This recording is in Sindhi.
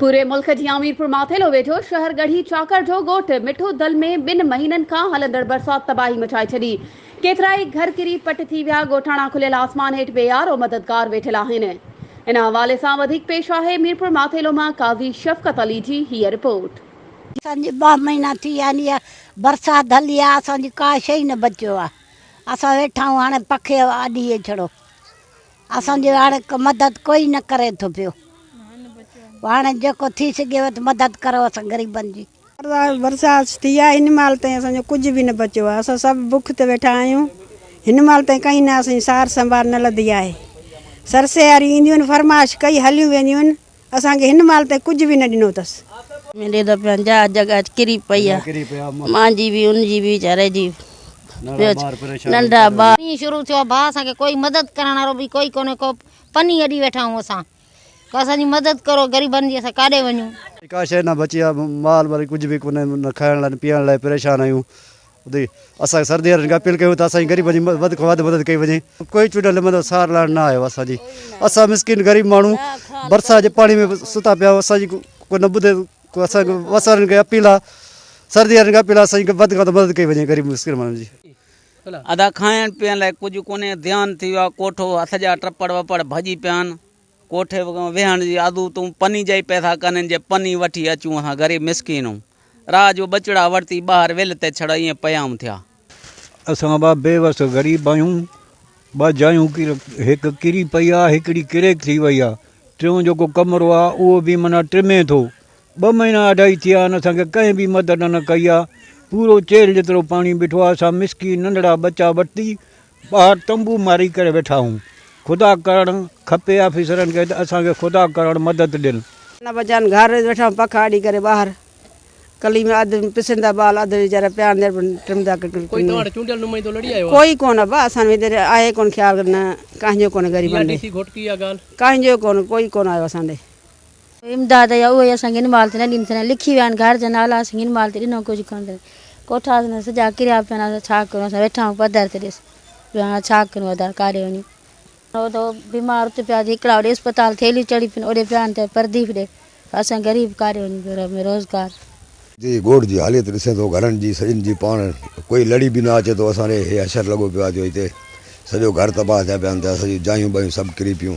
پوري ملڪ جيان ميرپور ماٿيلو ويجهو شهر ڳڙهي چاڪر جو ڳوٺ مٺو دل ۾ ٻن مهينن کان هلندڙ برسات تباهي مچائي ڇڏي، ڪيترائي گهر ڪري پٽ ٿي ويا، ڳوٺاڻا کليل آسمان هيٺ بي يارو مددگار ويٺل آهن. ان حوالي سان وڌيڪ پيش آهي ميرپور ماٿيلو مان قاضي شفقت علي جي هيء رپورٽ. اسان جي ٻه مهينا ٿي ويا آهن اها برسات هلي آهي اسان جي ڪا شيء نه بچيو آهي اسان ويٺا آهيون هاڻي پکي اڏي اچڙو. اسان جي هاڻ ڪو مدد ڪوئي نه ڪري ٿو پيو هاڻ جيڪو ٿي سگهيو ته مدد ڪرو اسان غريبن جي. برسات ٿي آهي هن مهل تائين اسان جو ڪجهه به نه بچيو آهي اسان سڀ بک تي ويٺا آهيون هن مهل تائين ڪنهن نه اسان جي سار سنڀار نه لڌي آهي سرسياريون اينديون آهن فرمائش ڪئي هليون وينديون آهن اسان کي هن مال تائين ڪجهه به نه ڏنو اٿس. ميلي ته پنهنجا جڳ اچ ڪري پئي آ مان جي به ان جي به ويچاري جي ٻيو ڇا ننڍا ٻار. پني شروع ٿيو آ ڀا اسان کي ڪوئي مدد ڪرڻ وارو به ڪوئي ڪونهي ڪو پني اڏي ويٺا آهيون اسان ڪو اسان جي مدد ڪرو غريبن جي اسان ڪاڏي وڃون. ڪا شئي نه بچي آ مال وري ڪجهه به ڪونهي نه کائڻ لاء نه پيئڻ لاء پريشان آهيون ادي اسان کي سرد يارن کي اپيل ڪيون ته اسان جي غريبن جي وڌ کان وڌ مدد ڪئي وڃي ڪوئي چونڊيل نمائندو سار لاهڻ نه آيو اسان جي اسان مسڪين غريب ماڻهو برسات جي پاڻي ۾ ستا پيا اسان جي ڪو نه ٻڌي ڪو اسان کي بس وارن کي اپيل آ سرد يارن کي اپيل آ اسان جي وڌ کان وڌ مدد ڪئي وڃي غريب مسڪين ماڻهن جي ادا کائڻ پيئڻ لاء ڪجهه ڪونهي ڌيان ٿي ويو آ ڪوٺو هٿ جا ٽپڙ وپڙ ڀڄي پيا آهن. ڪوٺي ويهڻ جي آڌو تون پني جا ئي پئسا ڪنين جي پني وٺي اچون اسان غريب مسڪينون راء جو ٻچڙا ورتي ٻاهر ويل تي ڇڙ ائين پيام ٿيا. اسان اڀا بي وس غريب آهيون ٻه جايون هڪ ڪري پئي آ هڪڙي ڪريڪ ٿي وئي آ ٽيون جيڪو ڪمرو آ اهو به معنيٰ ٽمي ٿو ٻه مهينا اڍائي ٿيا آهن اسان کي ڪنهن به مدد نه ڪئي آ پورو چيلهه جيترو پاڻي بيٺو آ اسان مسڪين ننڍڙا ٻچا ورتي ٻاهر تنبو ماري ڪري ويٺا آهيون خدا ڪرڻ کپي آفيسرن کي ته اسان کي خدا ڪرڻ مدد ڏين. نه بچان گهر ويٺا آهيون پک آڏي ڪري ٻاهر ڪلي ۾ اڌ پسين ٿا ٻال اڌ ويچارا پيا اندر به ٽم ٿا ڪري ڪوئي توهان وٽ چونڊيل نمائندو لڙي آيو آهي ڪوئي ڪون ابا اسان وٽ هينئر آهي ڪون خيال نه ڪانهن جو ڪون غريبن ڏي ڪانهن جو ڪون ڪوئي ڪون آيو اسان ڏي. امداد يا اهي اسان کي ان مال تي نه ڏين ٿيندا لکي ويا آهن گهر جا نالا اسان کي ان مال تي ڏنو ڪجهه ڪونه ٿين ڪوٺا اسان جا سڄا ڪريا پيا آهن اسان ڇا ڪريون اسان ويٺا آهيون پڌر تي ڏس جو هاڻ ڇا ڪريون ادا ڪاڏي وڃي هو ته بيمار ات پيا ٿي هڪڙا اوڏي اسپتال ٿيليون چڙهي پين اوڏي پيا آهن ته پرديپ ڏي اسان غريب ڪاڏي وڃي گهر ۾ روزگار. جي ڳوٺ جي حاليت ڏسين ٿو گهرن جي سڄن جي پاڻ ڪوئي لڙي به نه اچي ٿو اسان ڏي هي حشر لڳو پيو آهي جو هتي سڄو گهر تباهه ٿيا پيا آهن ته اسان جون جايون ٻايون سڀ ڪري پيون